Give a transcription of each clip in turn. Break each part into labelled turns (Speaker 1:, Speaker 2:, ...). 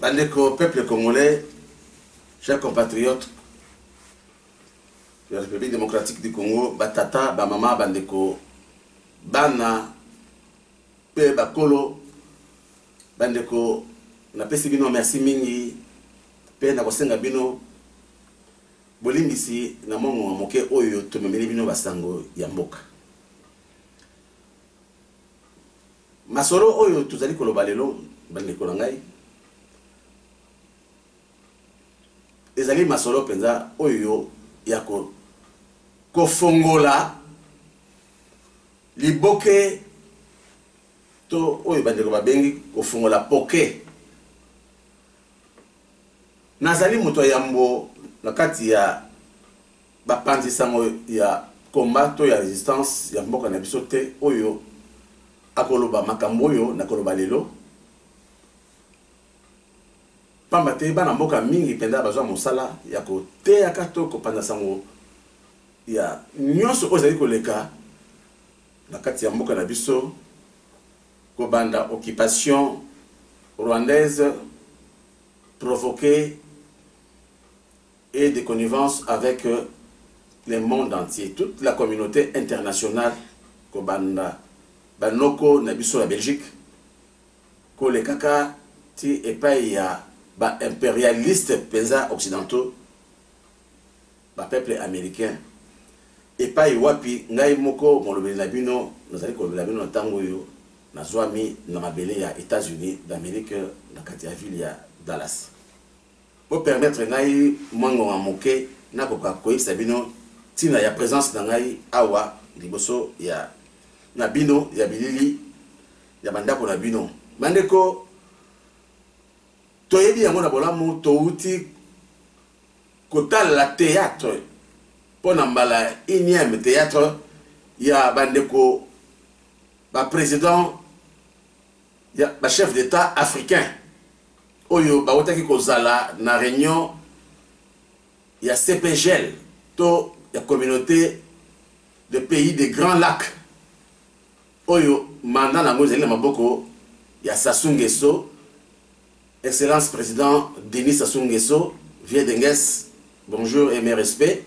Speaker 1: Bandeko peuple congolais, chers compatriotes la République démocratique du Congo, batata, bamama, bandeko, bana, pe bakolo, bandeko, napesi bino merci mingi pe nakosenga bino bolimbisi na mongongo moke oyo tomemeli bino basango ya mboka masolo oyo tozali koloba lelo bandeko na ngai ezali masolo mpenza oyo ya kofongola liboke to oyo bandeko babengi kofongola poke nazali moto ya yambo na kati ya bapanzi sango ya combat to ya resistance ya mboka na biso te oyo akoloba makambo oyo nakoloba lelo pamba te bana mboka mingi mpenza bazwa mosala ya koteyaka to kopanza sango ya nyonso oyo ezali koleka na kati ya mboka na biso kobanda occupation rwandaise provoquée et de connivence avec le monde entier, toute la communauté internationale, Kobanda, Banoko, Nabiso, la Belgique, Kolekaka, Ti, Epaïa, ba impérialistes penza occidentaux, ba peuples américains, epai wapi ngai moko molobeli na bino nazali kolobela bino na ntango oyo nazwami na mabele ya états-unis d'amérique na kati ya ville ya dallas Bo permettre ngai mwa ngonga moke nakoka koyebisa bino ntina ya presence na ngai awa liboso ya na bino ya bilili ya bandako na bino bandeko toyebi yango na bolamu touti kotalela théâtre mpo na mbala unième théâtre ya bandeko baprésident ya ba chef d'etat africain oyo bawutaki kozala na réunion ya cpgl to ya communauté de pays de grand lac oyo manda na yango ezali na maboko ya sasu ngeso excellence président denis sasu ngeso vieux denges bonjour et mes respects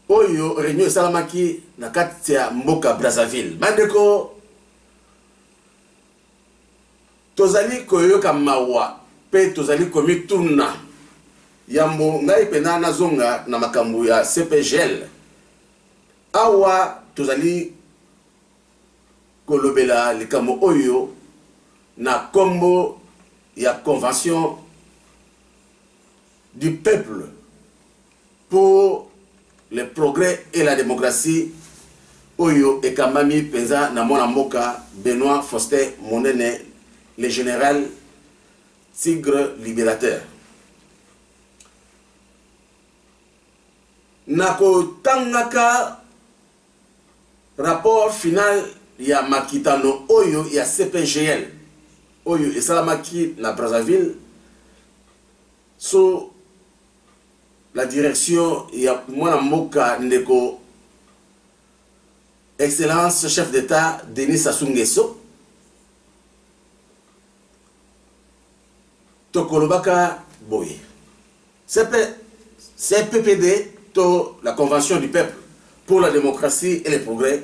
Speaker 1: oyo reunion esalamaki na kati ya mboka brazzaville bandeko tozali koyoka mawa mpe tozali komituna yambo ngai mpena nazonga na makambo ya cpgl awa tozali kolobela likambo oyo na nkombo ya convention du peuple pour le progrès et la démocratie oyo ekambami mpenza na mwana mboka benoit faustin monene le général tigre libérateur na kotangaka rapport final ya makitano oyo ya cpgl oyo esalamaki na brazzaville so la direction ya mwana mboka ndeko excellence chef d'état denis sassou nguesso tokolobaka boye CP, cppd to la convention du peuple pour la démocratie et le progrès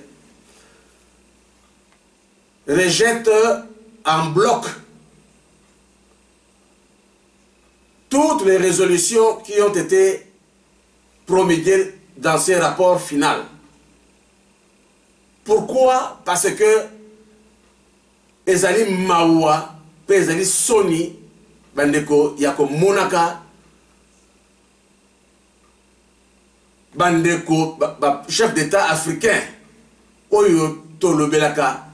Speaker 1: rejette en bloc toutes les résolutions qui ont été promulguées dans ce rapport final. Pourquoi Parce que ezali mawa mpe ezali soni bandeko ya komonaka bandeko bachef d'état africain oyo tolobelaka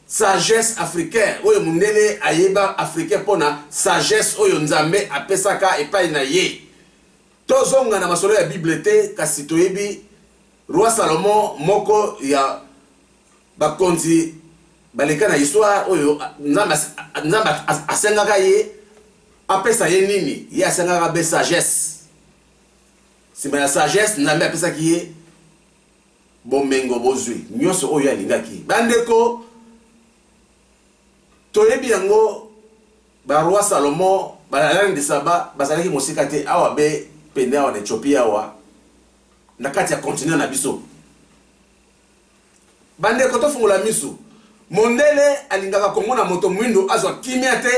Speaker 1: sagesse africain oyo mondele ayeba africain mpo na sagesse oyo nzambe apesaka epai na ye tozonga na masolo ya bible te kasi toyebi roi salomon moko ya Bakonzi baleka na histoire oyo Nzambe asengaka ye apesa ye nini? Ye asengaka be sagesse. Sima ya sagesse Nzambe apesaki ye bomengo bozwi nyonso oyo alingaki. Bandeko toyebi yango baroi Salomon balalani de Saba bazalaki mosika te awa be pene awa na Ethiopie awa na kati ya continent na biso bandeko tofungola miso mondele alingaka kongo na moto mwindo azwa kimia te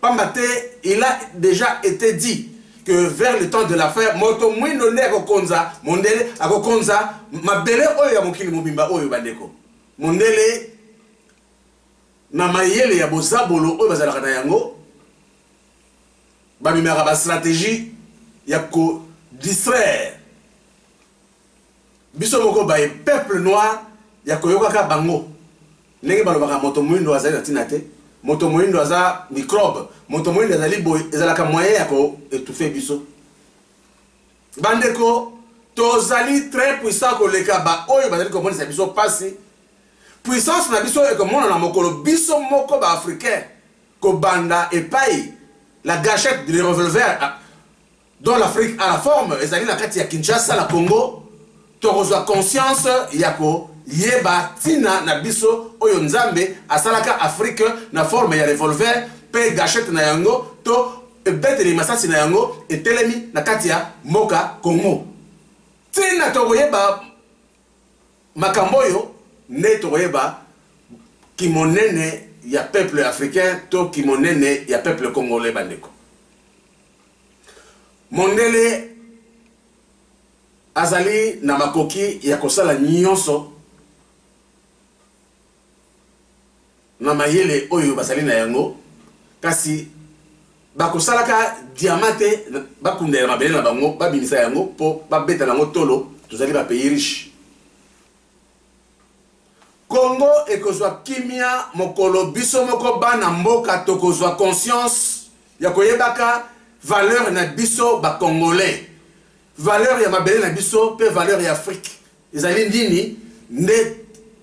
Speaker 1: pamba te il a déjà été dit que vers le temps de la fin moto mwindo nde akokonza mondele akokonza mabele oyo ya mokili mobimba oyo bandeko mondele na mayele ya bozabolo oyo bazalaka na yango bamemaka bastratégie ya kodistraire biso moko baye peuple noir ya koyokaka bango ndenge balobaka moto moindo azali na ntina te moto moindo aza microbe moto moindo azali boye ezalaka moyen ya koetufe biso bandeko tozali très puissant koleka baoyo bazali komonisa biso mpasi puissance na biso ekomonana mokolo biso moko baafricain kobanda epai la gachette de revolver dans l'Afrique à la forme ezali na kati ya Kinshasa na Congo tokozwa conscience ya koyeba ntina na biso oyo Nzambe asalaka Afrique na forme ya revolver mpe gachette na yango to ebeteli masasi na yango etelemi na kati ya mboka Congo ntina tokoyeba makambo oyo nde tokoyeba kimonene ya peuple africain to kimonene ya peuple congolais bandeko mondele azali na makoki ya kosala nyonso na mayele oyo bazali na yango kasi bakosalaka diama te bakundela mabele na bango babimisa yango mpo babeta na yango tolo tozali bapays riche Congo ekozwa kimia mokolo biso moko bana mboka tokozwa conscience ya koyebaka valeur na biso ba congolais. Valeur ya mabele na biso pe valeur ya Afrique ezali nini nde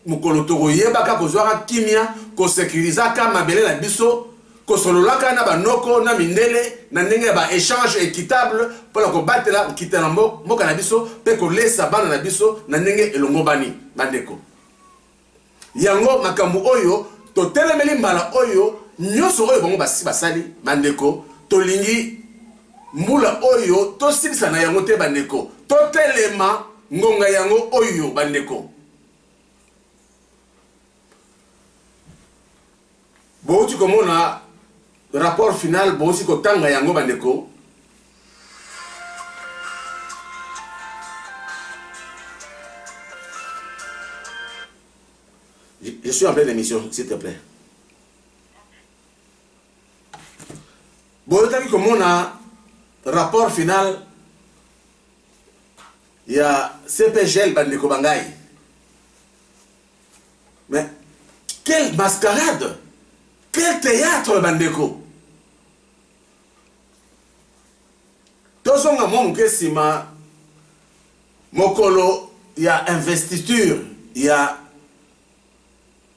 Speaker 1: mokolo tokoyebaka kozwaka kimia ko securisaka mabele na biso kosololaka na banoko na mindele na ndenge ya ba echange equitable mpo na kobatela nkita na mboka na biso mpe kolesa bana na biso na ndenge elongobani bandeko yango makambo oyo totelemeli mbala oyo nyonso oyo bango basi basali bandeko tolingi mbula oyo tosilisa na yango te bandeko totelema ngonga yango oyo bandeko bouti komona rapport final bouti kotanga yango bandeko je suis en pleine émission s'il te plaît boyokaki komona rapport final ya cpgl bandeko bangai mais quelle mascarade quel théâtre bandeko tozonga mwa moke nsima mokolo ya investiture ya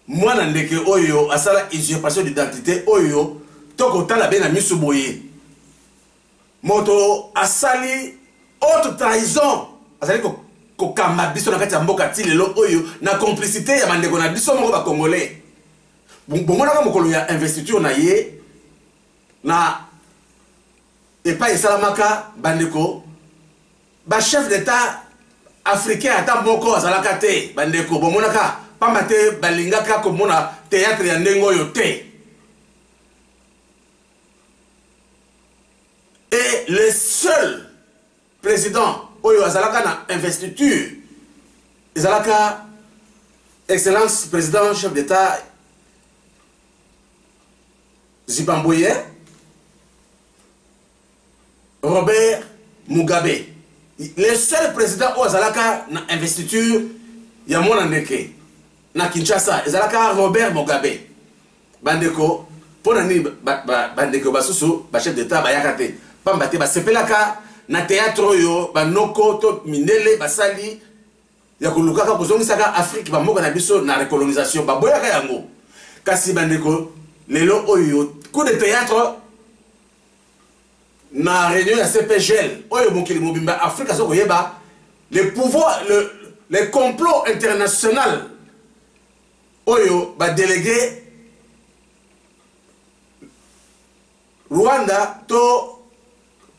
Speaker 1: mwana ndeke oyo asala usurpation d'identité oyo tokotala be na miso boye Moto asali haute trahison azali ko kokamba biso na kati ya mboka ti lelo oyo na complicité ya bandeko na biso moko bacongolais bomonaka mokolo ya investiture na ye na epai esalamaka bandeko bachef d'état africain ata moko azalaka te bandeko bomonaka mpamba te balingaka komona théâtre ya ndenge oyo te et le seul président oyo azalaka na investiture ezalaka excellence président chef d'état zimbabwe robert mugabe le seul président oyo azalaka na investiture ya mwana ndeke na kinshasa ezalaka robert mugabe bandeko mpo na nini bandeko basusu bachef d'etat bayaka te mpamba te basepelaka na théâtre oyo banoko to mindele basali ya kolukaka kozongisaka afrike bamboka na biso na recolonisation baboyaka yango kasi bandeko lelo oyo coup de théâtre na réunion ya cpgl oyo mokili mobimba afrika aza koyeba le pouvoir le, le complot international oyo ba delegue rwanda to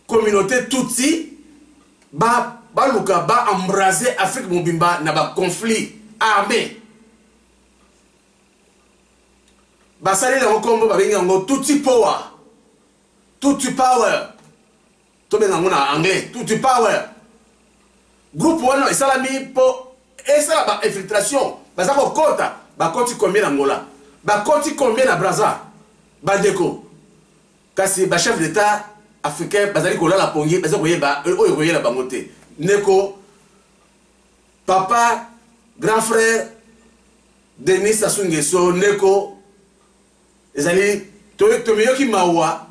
Speaker 1: communauté tutsi baluka ba embrase afrique mobimba na baconflit armé basali yango nkombo babengi yango tutsi power tutsi power tobenga yango na anglais tuti power groupe wana esalami mpo esala ba infiltration baza kokota bakoti combien na ngola bakoti combien na braza bandeko kasi bachef d'état africain bazali kolala pongi baza koyeba euh, oyo koyela bango te ndeko papa grand frère denis sassou nguesso ndeko ezali tomiyoki mawa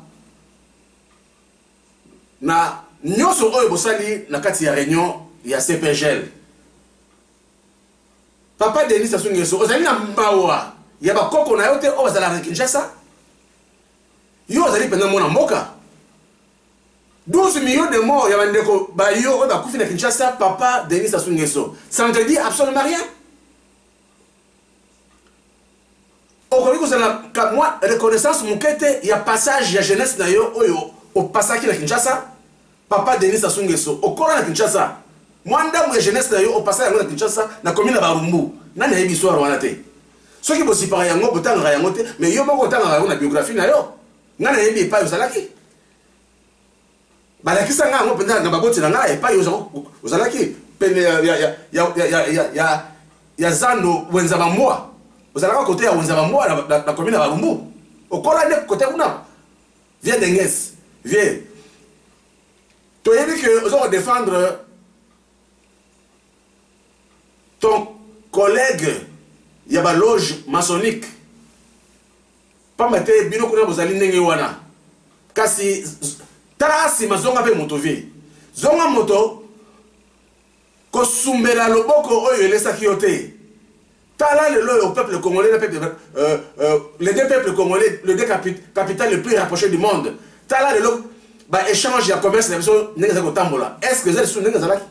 Speaker 1: na nyonso oyo bosali na kati ya réunion ya cpgl papa denis sassou nguesso ozali na mawa ya bakoko na yo te oyo bazalaka na kinshasa yo ozali mpenza mwana mboka 12 millions de morts ya bandeko bayo oyo bakufi na kinshasa papa denis sassou nguesso ça ne te dit absolument rien okoki kozala ka mwa reconnaissance moke te ya passage ya jeunesse na yo oyo opasaki na kinshasa papa denis asungeso okola na kinshasa mwa ndambo ya jeunesse na yo opasaki yango na kinshasa na komi na barumbu nani ayebi histoire wana te soki bozipaka yango botangaka yango te mais yo moko otangaka yango na biographie na yo ngai nayebi epai ozalaki balakisa ngai yango mpenza na baboti na ngai epai ozalaki pene ya zando wenza bambwa ozalaka kote ya wenza bambwa na komi na balumbu okola nde kote kuna vie denges vie toyebi ke oza kodefendre ton collègue ya baloge masonique Pamba te bino kuna bozali ndenge wana. Kasi tala sima zonga mpe moto vie. Zonga moto kosumbela loboko oyo elesaki yo te. Tala lelo oyo peuple congolais na peuple euh, euh, les deux peuples congolais, les deux capitales les plus rapprochées du monde. Tala lelo ba échange ya commerce na biso ndenge ezali kotambola. Est-ce que ezali sous ndenge ezalaki?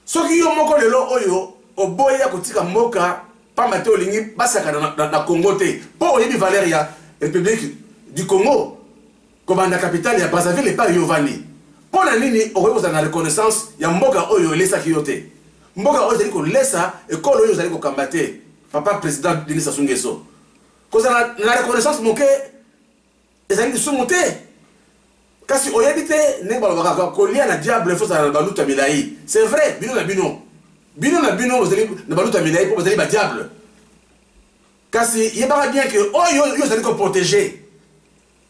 Speaker 1: Soki yo moko lelo oyo oboyi ya kotika mboka pamba te olingi basakana na, na, na Congo te mpo oyebi valeur ya Republique du Congo kobanda capitale ya Brazzaville epai yo ovandi, mpo na nini okoki kozala na reconnaissance ya mboka oyo elesaki yo te? Mboka oyo ezali kolesa ekolo oyo ozali kokamba te, papa president Denis Sassou Nguesso. Kozala na reconnaissance moke ezali lisumu te kasi oyebi te ndenge balobaka kolia na diable fo ozala na baluta milai c'est vrai bino na bino bino na bino bozali na baluta milai mpo bozali badiable kasi yebaka bien ke oyo oh, yo ozali koprotege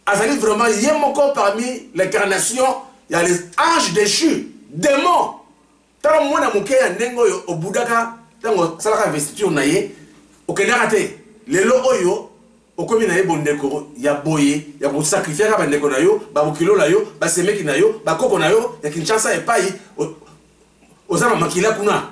Speaker 1: azali vraiment ye moko parmi l'incarnation ya les anges déchu démon Tala mwana moke ya ndenge oyo obudaka ntango asalaka investiture na ye okendaka te lelo oyo okomi na ye bondeko ya boye ya kosakrifiaka bandeko na yo babokilo na yo basemeki na yo bakoko na yo ya kinshasa epai oza na makila kuna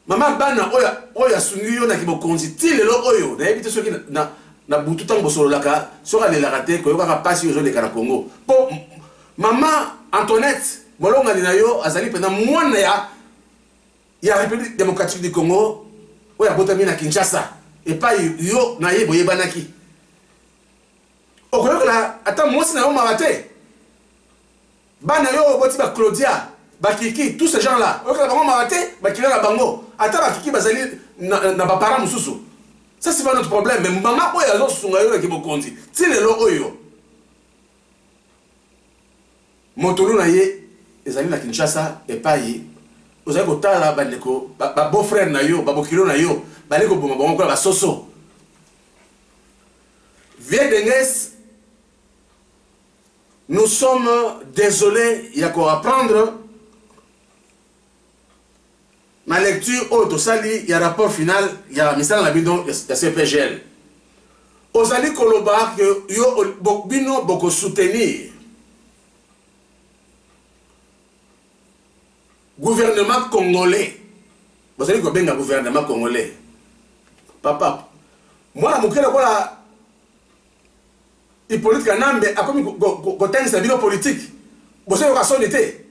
Speaker 1: Mama bana oyo oyo asungi yo na kibokonzi ti lelo oyo nayebi te soki na, na butu ntango bosololaka soki alelaka te koyokaka mpasi ozoleka na Congo mpo mama Antoinette molongani na yo azali mpenza mwana ya ya République démocratique du Congo oyo abotami na Kinshasa epai yo na ye boyebanaki okoyokela ata mwasi na yo mawa te bana yo oboti ba claudia bakiki tout ce genre là oyokela bango mawa te bakila na bango ata bakiki bazali na, na baparent mosusu ça c'est pas notre problème mais mama oyo azosunga yo na kibokonzi ti lelo oyo motolu na ye ezali na kinshasa epai ozali kotala bandeko babeau frère na yo babokilo na yo bali koboma bango kola basoso vie denges Nous sommes désolés ya ko apprendre na lecture oyo tosali ya rapport final ya misala na bino ya CPGL. Ozali koloba que yo bino boko soutenir gouvernement congolais bozali kobenga gouvernement congolais papa mwana moke lokola Hyppolite Kanambe akomi kotangisa bino politique. Bozo yoka soni te.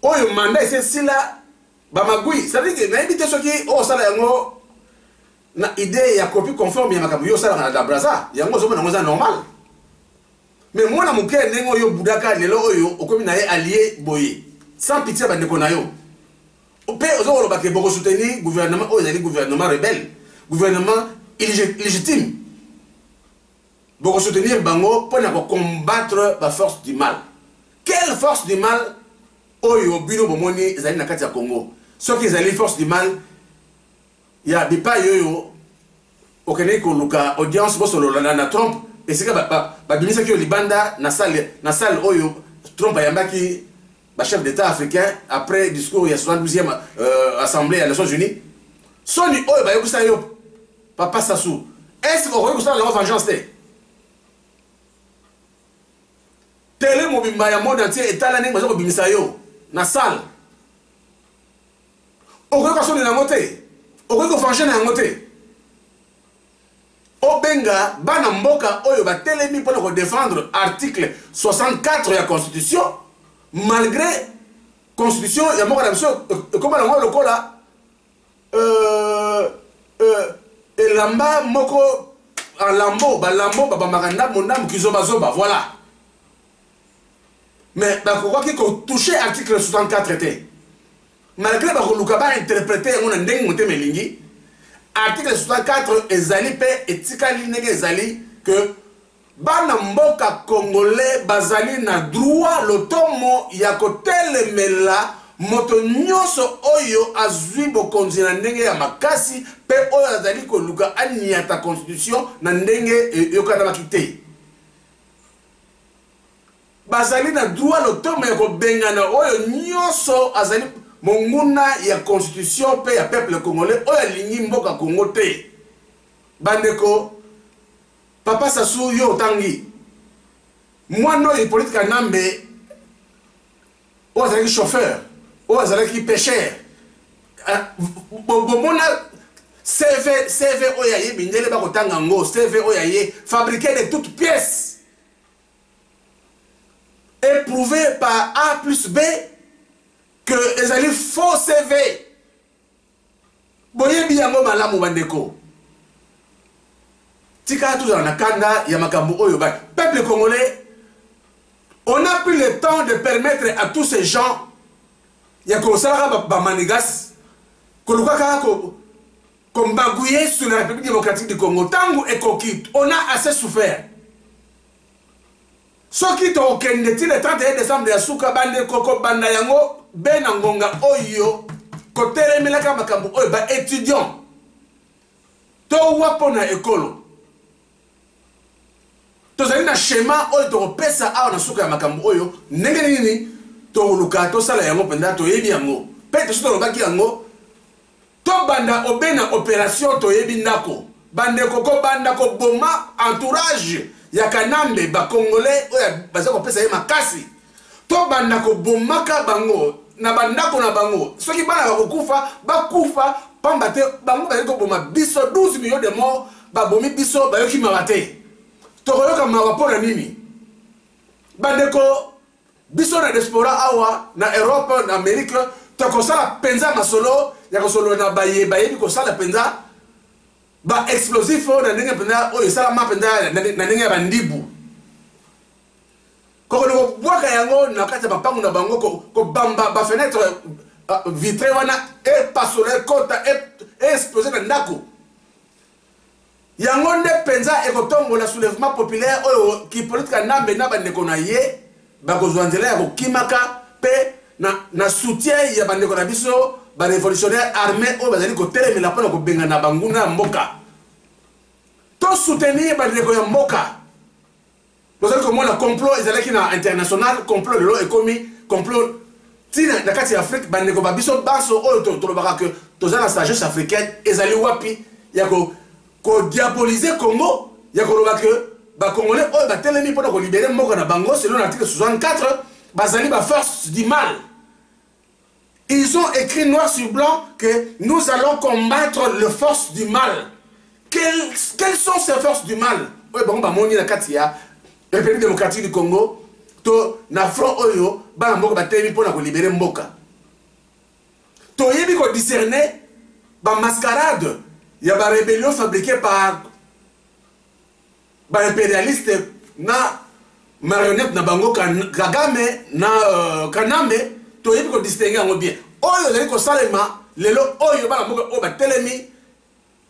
Speaker 1: Oyo mandat ese sila ba magui. Ça veut dire nayebi te soki o sala yango na idée ya copie conforme ya makambo yo sala na la Brazza. Yango zo mona ngoza normal. Mais mwana moke ndenge oyo budaka lelo oyo okomi na ye allié boye. Sans pitié ba ndeko na yo. Mpe ozo koloba ke boko soutenir gouvernement oyo ezali gouvernement rebelle, gouvernement illégitime. Boko soutenir bango mpo na ko combattre ba force du mal. Quelle force du mal oyo bino bomoni ezali na kati ya Congo? Soki ezali force du mal ya bipai oyo okendeki koluka audience bosolola na, na trump esika babimisaki ba, ba yo libanda na salle, na salle oyo trump ayambaki bachef d'état africain après discours ya 72e euh, assemblée ya nations unies soni oyo bayokisa yo papa sasu est-ce okoki kosala nango vengeance te tele mobimba ya monde entier etala ndenge baza kobimisa yo na salle okoki kosoni na yango te okoki kofange na yango te obenga bana mboka oyo batelemi mpo na kodefendre article 64 ya constitution malgré constitution ya mboka na biso ekoma nango lokola euh, euh, elamba moko alambo balambo babambaka ndambo ndambo kizobazoba voilà mais bakokaki kotouche article 64 te malgré bakoluka bainterprete yango na ndenge motema elingi article 64 ezali mpe etikali ndenge ezali ke bana mboka congolais bazali na droit lotomo ya kotelemela moto nyonso oyo azwi bokonzi na ndenge ya makasi mpe oyo azali koluka aniata constitution na ndenge eyokanamaki te bazali na droit lotomo ya kobengana oyo nyonso azali monguna ya constitution mpe ya peuple congolais oyo alingi mboka congo te bandeko papa sasu yo otangi mwana oyo hippolite kanambe oyo azalaki chauffeur oyo azalaki pêcheur eh, bomona cv cv oyo aye mindele bakotanga yango cv oyo aye fabriqué de toute pièce éprouvé par a plus b que ezali faux cv boyebi yango malamu bandeko tika tozala na kanda ya makambo oyo ba peuple congolais on n'a plus le temps de permettre à tous ces gens ya kosalaka bamanigas koluka kaka kombagouye sur la république démocratique du congo ntango ekoki on a assez souffert Soki tokokende ti le 31 decembre ya suka, bandeko kobanda yango be na ngonga oyo kotelemelaka makambo oyo ba étudiants towa mpo na ekolo tozali na schéma oyo tokopesa awa na suka ya makambo oyo ndenge nini toluka tosala yango mpenza toyebi yango mpe tosi tolobaki yango To banda obena operation toyebi ndako. Bandeko ko banda ko boma entourage ya Kanambe ba congolais oyo baza kopesa ye makasi. To banda ko bomaka bango na bandako na bango. Soki bana bakokufa bakufa pamba te bango bazali koboma biso 12 millions de morts babomi biso bayoki mawa te tokoyoka mawa mpo na nini bandeko biso na diaspora awa na europe na amerike tokosala mpenza masolo ya kosolola na baye bayebi kosala mpenza baexplosif oyo na ndenge mpenza oyo esalama mpenza na ndenge ya bandibu kokende kobwaka yango na kati ya mapango na bango kobamba bafenetre vitre wana epasola ekota e, e, e explose na ndako yango nde mpenza ekotombola soulèvement populaire oyo kipolite kanambe na bandeko na ye bakozwa nzela ya kokimaka mpe na, na soutien ya bandeko na biso barevolutionnaire armé oyo bazali kotelemela mpo na kobengana banguna ya mboka tosoutenir bandeko ya mboka bozali komona complot ezalaki na international complot lelo ekomi complot ntina na kati ya afrike bandeko ba biso banso oyo tolobaka ke toza na sagesse africaine ezali wapi ya kodiabolize congo ya koloba ke bacongolais oyo batelemi mpo na kolibere mboka na bango selon na article 64 bazali baforce du mal Ils ont écrit noir sur blanc que nous allons combattre les forces du mal. Quelles, quelles sont ces forces du mal Oui, bon, bah, mon la Katia, République démocratique du Congo, to na front oyo bana mboka batelemi mpo na kolibere mboka toyebi kodiscerne bamascarade ya barébellion fabriqué par ba imperialiste na marionnette na bango kagame na uh, kanambe toyebi kodistingue yango bien oyo ezali kosalema lelo oyo bana mboka oyo batelemi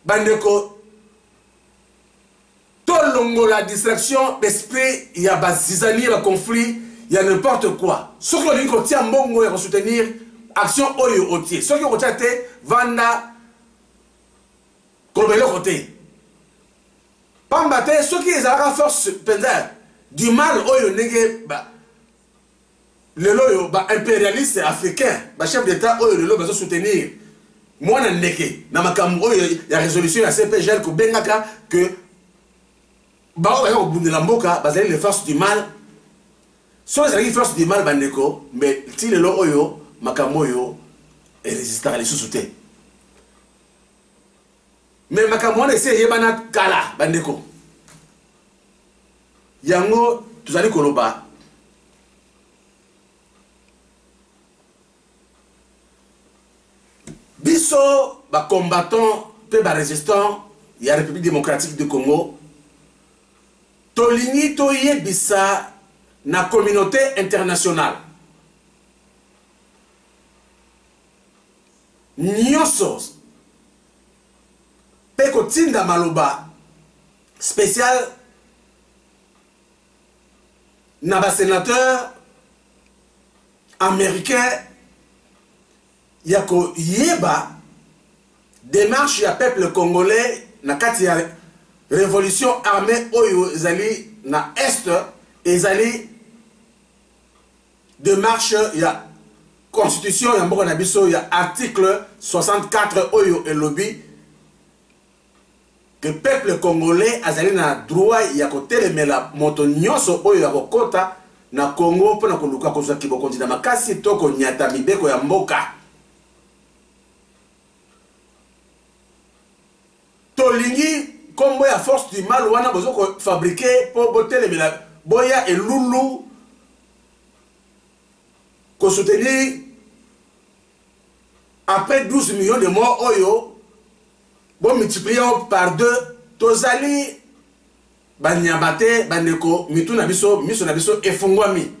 Speaker 1: bandeko tolongola distraction d'esprit ya bazizanie ya conflit ya n'importe quoi soki olingi kotia mbongo ya kosoutenir action oyo otie soki okotia te vanda koloba eloko te pamba te soki ezalaka force mpenza du mal oyo ndenge ba lelo oyo ba impérialiste africain ba chef d'état oyo lelo bazo soutenir mwana ndeke na makambo oyo ya résolution ya cpgl kobengaka que baoyo baza kobundela mboka bazali les forces du mal soki ezalaki force du mal bandeko mbe ti lelo oyo makambo oyo erésistaka lisusu te me makambo wana esi eyebana kala bandeko yango tozali koloba biso bacombattant mpe barésistant ya république démocratique du congo tolingi toyebisa na communauté internationale nioso pe kotinda maloba special na ba sénateur américain ya koyeba démarche ya peuple congolais na kati ya révolution armée oyo ezali na est ezali demarche ya constitution ya mboka na biso ya article 64 oyo elobi ke peuple congolais azali na droit ya kotelemela moto nyonso oyo ya kokota na congo mpo na koluka kozwa kibokonzi na makasi to konyata mibeko ya mboka Tolingi kombo ya force du mal wana bozo ko fabriquer po botelemela boya elulu ko soutenir après 12 millions de morts oyo bo multiplier par deux tozali banyama te bandeko mitu na biso miso na biso efungwami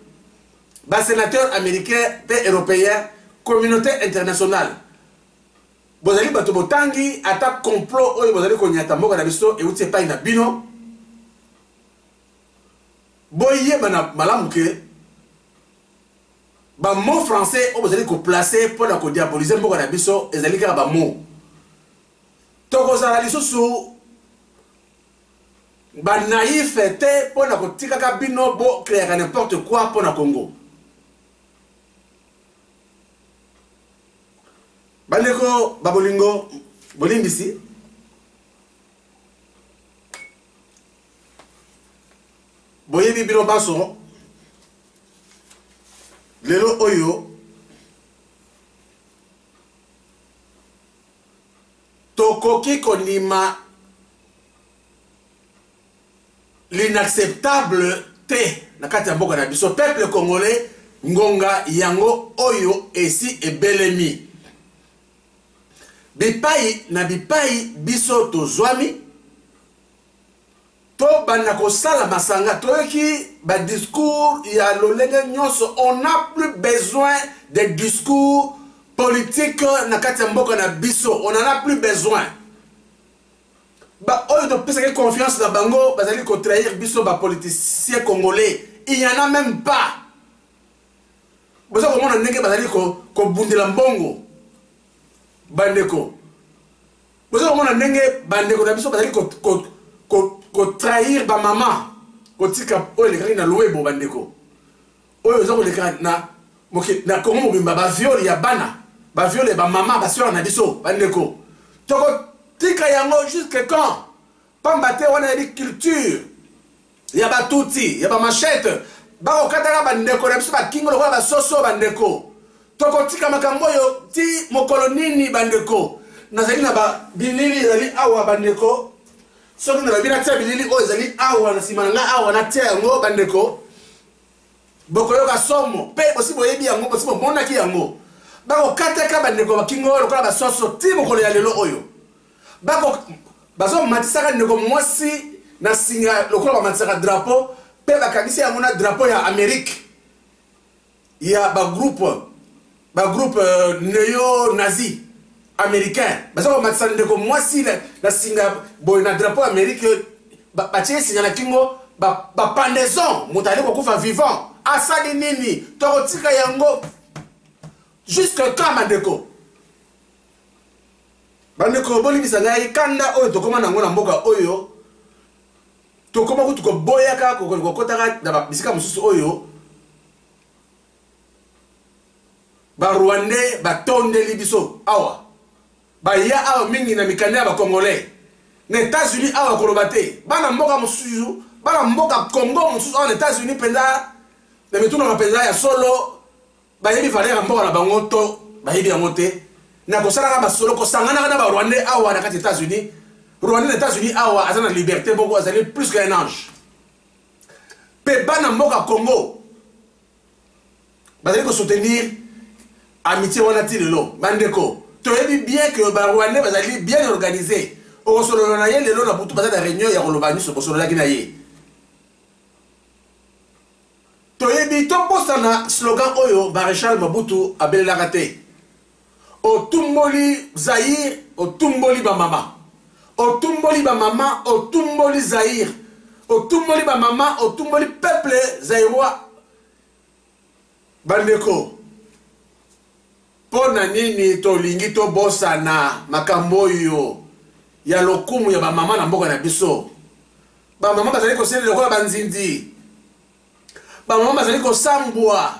Speaker 1: basénateur américain mpe européen communauté internationale bozali bato botangi ata complot oyo bozali konyata mboka na biso euti epai na bino boyeba na malamu ke bamot français oyo bozali koplace mpo na kodiabolize mboka na biso ezali kaka bamot tokozala lisusu banaife te mpo na kotikaka bino bokreaka nimporte quoi mpo na congo Bandeko ba bolingo bolimbisi boyebi bino banso lelo oyo tokoki kondima l'inacceptable te na kati ya mboka na biso peuple congolais ngonga yango oyo esi ebelemi bipai na bipai biso tozwami tobanda kosala masanga toyoki badiscours ya lolenge nyonso on a plus besoin de discours politique na kati ya mboka na biso on en a plus besoin baoyo topesaki confiance na bango bazali kotrahir biso bapoliticien congolais il y en a même pas boza komona ndenge bazali kobundela mbongo bandeko boza komona ndenge bandeko na biso bazali kotrahir bamama kotika oyo elekaki na lowebo bandeko oyo eza koleka na mokili na kongo mobimba baviole ya bana baviole ya bamama baswere na biso bandeko tokotika yango jusque quand pamba te wana yebi culture ya batuti ya bamachete bakokataka bandeko na biso bakingo lokola basoso bandeko tokotika makambo oyo ti mokolo nini bandeko nazali na babilili ezali awa bandeko soki nalobi natia bilili oyo ezali awa na nsima na ngai awa natia yango bandeko bokoyoka somo mpe bosi boyebi yango bosi bomonaki yango bakokataka bandeko bakingo oyo lokola basoso ti mokolo ya lelo oyo bazomatisaka ndeko mwasi na singa lokola bamatisaka drapo mpe bakangisi yango na drapo ya amerike ya bagroupe ba groupe euh, neo nazi américain baza komatisa ndeko mwasi na, na singa boye na drapeau ya amérique batie singa na kingo bapendaison moto ali kokufa vivant asali nini tokotika yango jusque quand bandeko bandeko bolimbisa ngai kanda oyo tokóma na yango na mboka oyo tokóma kutu koboyaka kokotaka na bisika mosusu oyo barwandais batondeli biso awa baya awa mingi na mikanda ya bacongolais na états-unis awa koloba te bana mboka mosusu bana mboka congo mosusu awa na états-unis mpenza na mitunaka mpenza ya solo bayebi valeur ya mboka na bango to bayebi yango te na kosalaka basolo kosanganaka na barwandais awa na kati ya états-unis rwandais na états-unis awa aza na liberté moko azali plus qu'un ange mpe bana mboka congo bazali kosoutenir amitie wana ti lelo bandeko toyebi bien ke barwandais bazali bien organise okosolola na ye lelo na butu baza na réunion ya koloba nyonso okosololaki na ye toyebi tobosana slogan oyo maréchal mabutu abelelaka te otumboli zaire otumboli bamama otumboli bamama otumboli zaire otumboli bamama otumboli peuple zairois bandeko mpo na nini tolingi tobosana makambo oyo ya lokumu ya bamama na mboka na biso bamama bazali kosalela lokola banzinzi bamama bazali kosambwa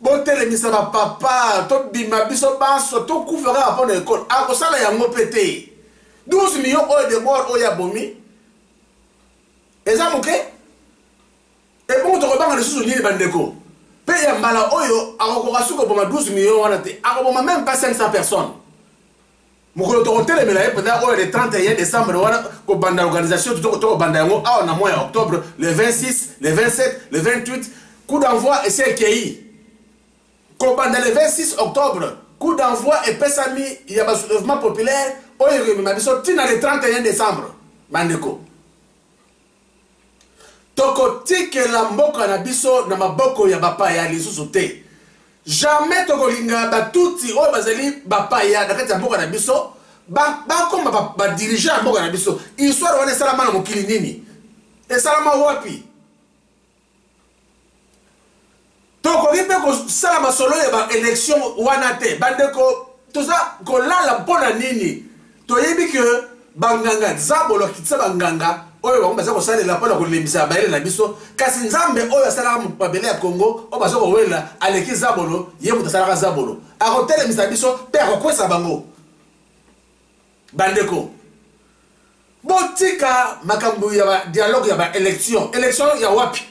Speaker 1: botelemisa ba papa tobima biso banso tokufa kaka mpo na ekole akosala yango mpe te 12 million oyo debord oyo abomi eza moke ebongo tokobanga lisusu nini bandeko mpe ya mbala oyo akokoka soki koboma 12 million wana te akoboma meme pas 500 personnes mokolo tokotelemela ye mpenza oyo le 31 décembre wana kobanda organisation tokobanda yango awa na mois ya octobre le 26 le 27 le 28 coup d'envoi esi ekei kobanda le 26 octobre coup d'envoi epesami ya basoulèvement populaire oyo ekomema biso ntina le 31 décembre bandeko tokotikela mboka na biso na maboko ya bapaya lisusu te jamais tokolinga batuti oyo bazali bapaya na kati ya mboka na biso bakoma ba badirigant ba ya mboka na biso histoire wana esalama na mokili nini esalama wapi tokoki mpe kosala masolo ya baélection wana te bandeko toza kolala mpo na nini toyebi ke banganga zabolo akitisa banganga oyo bango baza kosalela mpo na kolembisa bayele na biso kasi nzambe oyo asalaka mabele ya kongo oyo baza kowelela aleki zabolo ye moto asalaka zabolo akotelemisa biso mpe akokwesa bango bandeko botika makambo ya ba dialogue ya ba élection élection ya wapi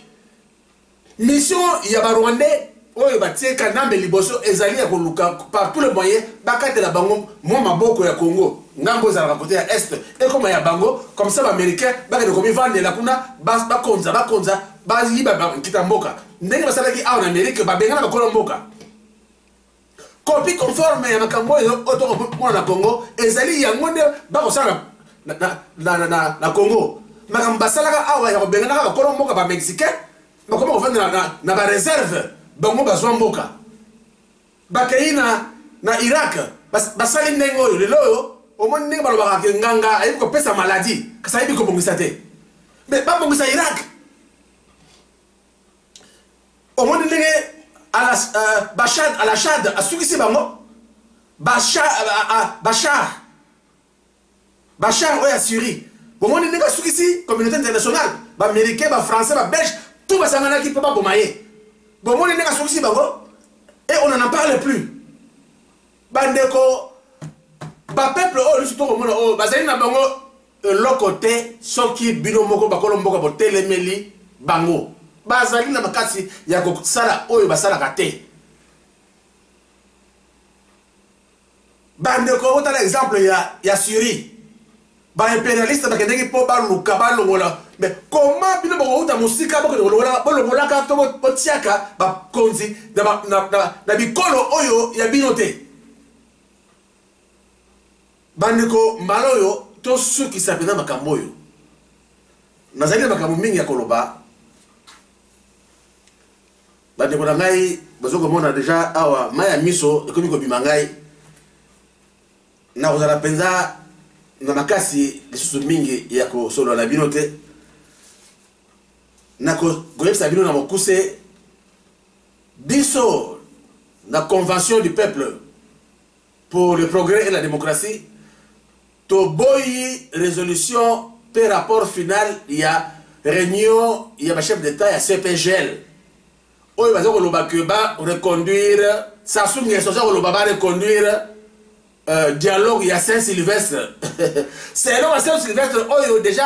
Speaker 1: mission ya ba rwandais oyo batie kanambe liboso ezali ya koluka par tout le moyen bakatela bango mwa maboko ya congo ngambo ezalaka kote ya est ekoma ya bango comme ça baaméricain bakende komivandela kuna bakonza bakonza bayiba nkita mboka ndenge basalaki awa na amerike babengana bakolo mboka copie conforme ya makambo oyo oyo tokomona na congo ezali yango nde bakosala na, na, na, na, na, na congo makambo basalaka awa ya kobenganaka bakolo mboka bamexicain bakoma kofanda na, na, na bareserve bango bazwa mboka bakei na, na irak bas, basali ndenge oyo lelo oyo omoni ndenge balobaka ke nganga ayebi kopesa maladi kasi ayebi kobongisa te me babongisa irak omoni ndenge euh, bashad alashad asukisi bango bashar euh, bashar oyo assyrie bomoni ndenge asukisi communauté internationale baaméricain bafrançais babelge tout basanganaki mpo baboma ye bomoni ndenge asukisi bango et on en parle plus bandeko bapeuple oyo lisu tokomona oyo bazali na bango eloko te soki bino moko bakolo mboka botelemeli bango bazali na makasi ya kosala oyo basalaka te bandeko otala exemple ya, ya syrie baimperialiste bakendeki mpo baluka balongola me koma bino bokouta mosika bolongolaka to botiaka bakonzi na bikolo oyo ya bino te Bandeko, mbala oyo tosukisa mpenza makambo oyo. Nazali na makambo mingi ya koloba. Bandeko na ngai bazo komona deja awa mai ya miso ekomi kobima ngai. Nakozala mpenza na makasi lisusu mingi ya kosolola na bino te. Nakoyebisa bino na mokuse biso na convention du peuple pour le progrès et la démocratie toboyi résolution mpe rapport final ya réunion ya bachef d'état ya cpgl oyo baza koloba ke bareconduire sasu ngeso aza koloba bareconduire euh, dialogue ya saint sylvestre selon ya saint sylvestre oyo déjà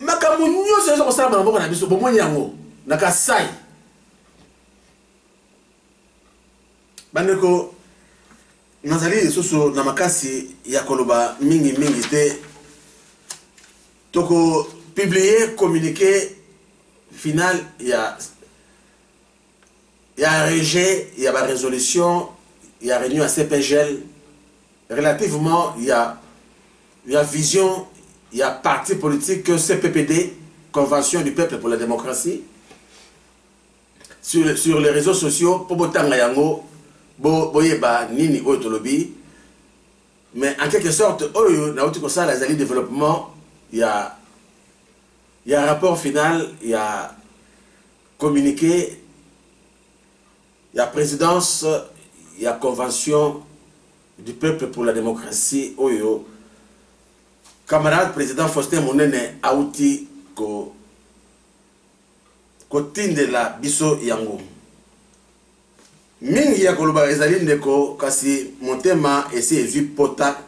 Speaker 1: makambo nyonso ezo kosala bana mboka na biso bomoni yango na kasai bandeko nazali lisusu na makasi ya koloba mingi mingi te toko publie communiqué final ya ya rejet ya ba résolution ya réunion ya cpgl relativement ya ya vision ya parti politique cppd convention du peuple pour la démocratie sur, sur les réseaux sociaux mpo botanga yango boyeba bo nini oyo tolobi mais en quelque sorte oyo nauti kosala ezali développement ya ya rapport final ya Communiqué ya presidence ya convention du peuple pour la démocratie oyo camarade président Faustin Munene auti ko kotindela biso yango mingi ya koloba ezali ndeko kasi motema esi ezwi pota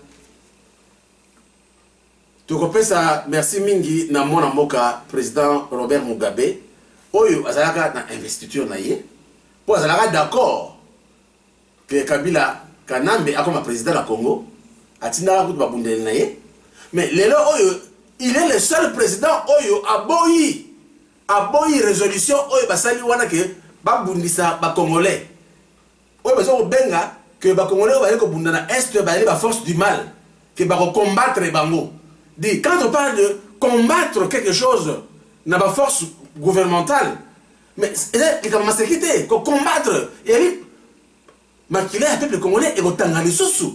Speaker 1: Tokopesa merci mingi na mwana mboka President Robert Mugabe oyo azalaka na investiture na ye mpo azalaka d'accord que Kabila Kanambe akoma president na Congo atindaka kutu babundeli na ye mais lelo oyo il est le seul président oyo aboyi aboyi résolution oyo basali wana ke babundisa bacongolais oyo baza kobenga ke bakongolais oyo baye kobunda na est bayeli ba force du mal ke bakocombattre bango di quand on parle de combattre quelque chose na ba force gouvernementale mais eza likambo maseki te kocombattre eyeli makila ya peuple congolais ekotanga lisusu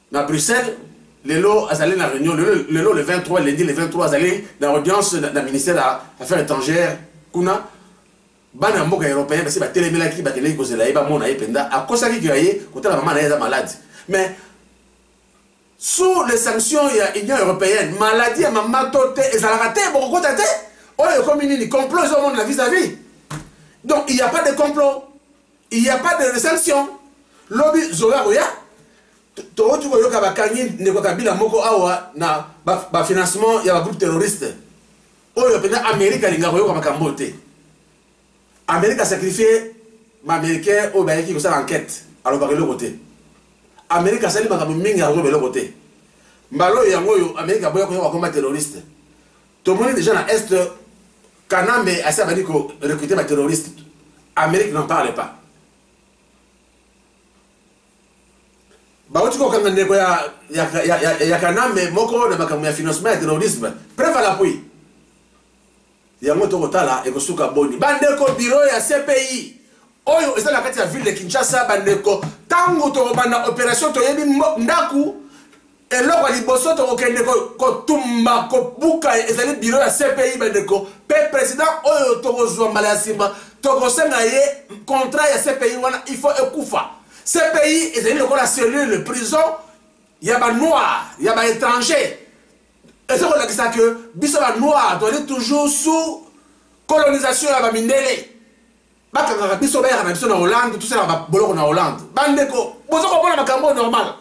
Speaker 1: na Bruxelles lelo azali na réunion lelo le 23 lundi le 23 azali na audience na ministère ya affaires étrangères kuna bana ya mboka européen basi batelemelaki bakendeki kozela ye bamona ye mpenza akosaki kila ye kotala mama na ye aza maladi mais sous les sanctions ya union européenne maladi ya mama to te ezalaka te bokokota te oyo ekomi nini complot ezomona na vis à vis donc il n'y a pas de complot il y a pas de reception lobi zoe akoya towuti koyoka bakangi ndeko kabila moko awa na bafinancement ba ya bagroupe terroriste oyo mpenza amerika alinga koyoka makambo oyo te amerika asacrifie baaméricain oyo bayaki kosala enquête alobaka eloko te amerika asali makambo mingi akoyeba eloko te mbala oyo yango oyo amerika aboya koyoka bakoma terroriste tomoni deja na est kanambe asi abandi korecrute baterroriste amérique n'en parle pas bauti kokanga ndeko ya, ya, ya, ya, ya kanambe moko na makambo ya financement ya terrorisme preuve à l'appui yango tokotala ekosuka boni bandeko biro ya cpi oyo eza na kati ya ville de kinshasa bandeko ntango tokobanda opération toyebi ndako eloko ya liboso tokokende kotumba kobuka ezali biro ya cpi bandeko mpe president oyo tokozwa mbala ya nsima tokosenga ye contrat ya cpi wana il faut ekufa cpi ezali lokola cellule prison ya banoir ya baétranger eza kolakisa ke biso banoir tozali toujours sous colonisation ya bamindele bakangaka biso bayaka na biso na hollande tosala baboloko na hollande bandeko boza komona makambo oyo normal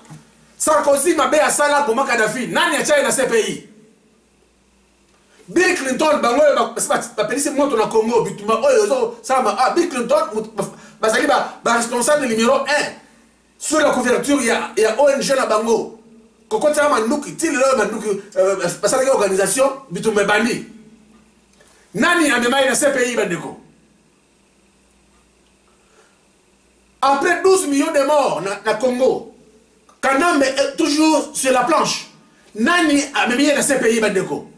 Speaker 1: sarkozy mabe asala boma kadafi nani atya ye na cpi bill clinton bango oyo bapelisi moto na congo bituma oyo ezosalama ah, bill clinton bazali baresponsable numero 1 sur la couverture ya, ya ong na bango kokotaka manduki ti lelo manduki euh, basalaki organisation bitumba ebandi nani amemaki na cpi bandeko après 12 millions de morts na, na congo kanambe est toujours sur la planche nani amemi ye na cpi bandeko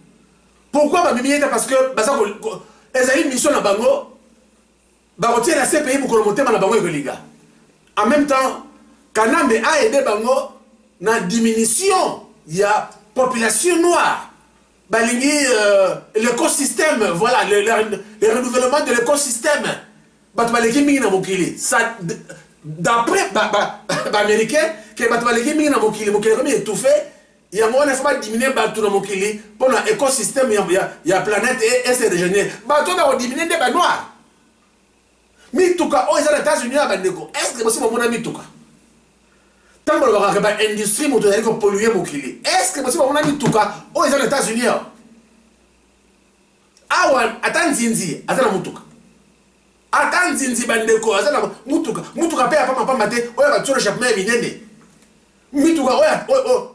Speaker 1: pourquoi bamemi ye te parce que baza ezali mission na bango Bakotiela CPI mokolo motema na bango ekolinga. En meme temps, Kanambe a aide bango na diminution ya population noire. Balingi euh, l'écosystème, voilà, le, le, le renouvellement de l'écosystème. Bato baleki mingi na mokili. Ça, d'après ba, ba, ba américains que bato baleki mingi na mokili mokili ekomi étouffé yango wana fo badiminue bato na mokili mpo na écosystème ya, ya, ya planète e, ese régénère bato wana kodiminue nde banoire mituka oyo eza na états-unis ya bandeko estce bosi bomona mituka ntango balobakaka baindustrie moto ezali kopolue mokili estce bosi bomona mituka oyo eza na états-unis awa awa ata nzinzi aza na motuka ata nzinzi bandeko aza na mutuka mutuka mpe ya pamapamba te oyo batyolo chapema ya minene mituka oyo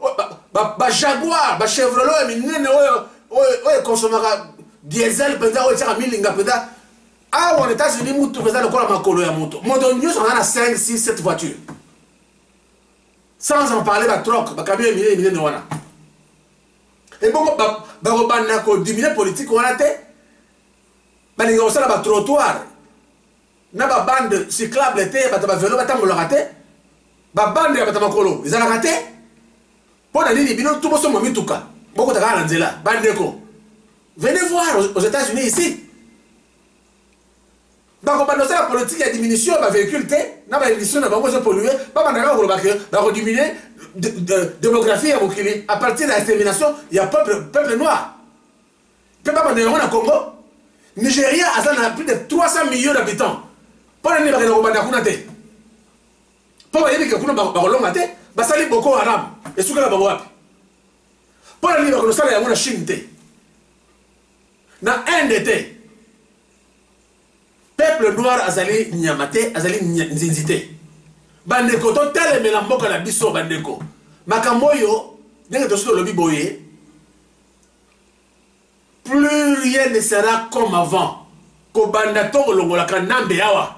Speaker 1: bajaguar bachevrelo ya minene oyo oyo ekonsomaka diesel mpenza oyo etyaka milinga mpenza awa na états-unis mutuka eza lokola makolo ya moto moto nyonso aza na 5 6 7 voiture sans en parler batroc bakamio ya minene minene wana ebongo bakobanda kodiminue politike wana te balinga kosala batrottoir na babande cyclable te ya bato ya bavelo batambolaka te babande ya bato ya makolo ezalaka te mpo na nini bino to bosomba mituka bokota kaka na nzela bandeko venez voir aux états-unis ici bakobanda osala politike ya diminution ya bavéhicule te na baémission na bango ezopollue babanda kaka koloba ke bakodiminue démographie ya mokili à partir ya extermination ya peuple noir mpe babanda yango na congo nigeria aza na plus de 300 millions d'habitants mpo na nini bakenda kobanda kuna te mpo bayebi ke kuna bakolonga te basali boko haram esukela bango wapi mpo na nini bakosala yango na chine te na inde te peuple noir azali nyama te azali nzinzi te bandeko totelemela mboka na biso bandeko makambo oyo ndenge tosi tolobi boye plus rien ne sera comme avant kobanda to kolongola kanambe awa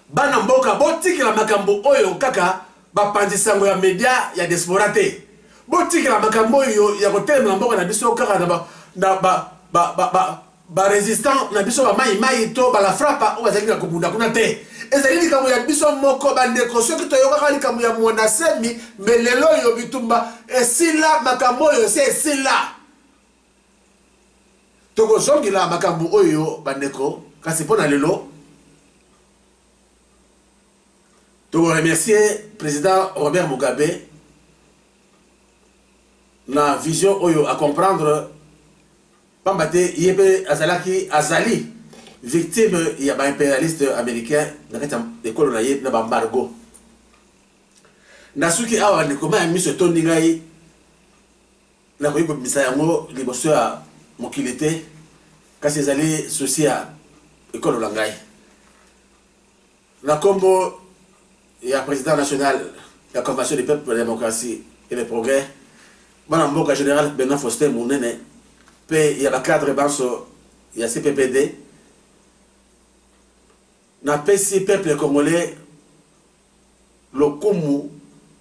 Speaker 1: bana mboka botikela makambo oyo kaka bapanzi sango ya media ya diaspora te botikela makambo oyo ya kotelemela mboka na biso kaka na ba, na ba, ba, ba, ba, ba resistant na biso ba mai mai to ba la frapa oyo bazali na kobunda kuna te ezali likambo ya biso moko bandeko soki toyokaka likambo ya mwanasemi me lelo oyo bitumba esila makambo oyo esi esila tokozongela makambo oyo bandeko kasi mpo na lelo tokoremercie président robert mugabe na vision oyo acomprendre pamba te ye mpe azalaki azali victime ya baimperialiste américain na kati ya ekolo na ye na baembargo nasuki awa bandeko mai ya miso etondi ngai nakoki kobimisa yango liboso ya mokili te kasi ezali susi ya ekolo na ngai Na nkombo ya President national ya Convention du peuple pour la democratie et le progrès, bana mboka General Benoit Faustin Munene mpe ya bacadre banso ya CPPD, napesi peuple congolais lokumu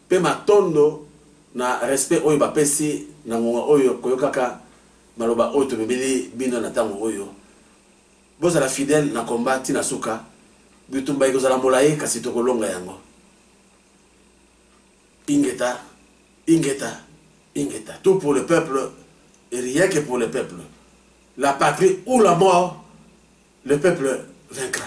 Speaker 1: mpe matondo na respect oyo bapesi na ngonga oyo koyokaka maloba oyo tomemeli bino na ntango oyo Bozala fidèle na combat ti na suka. Bitumba ekozala molayi kasi tokolonga yango. Ingeta, ingeta, ingeta. Tout pour le peuple et rien que pour le peuple. La patrie ou la mort, le peuple vaincra.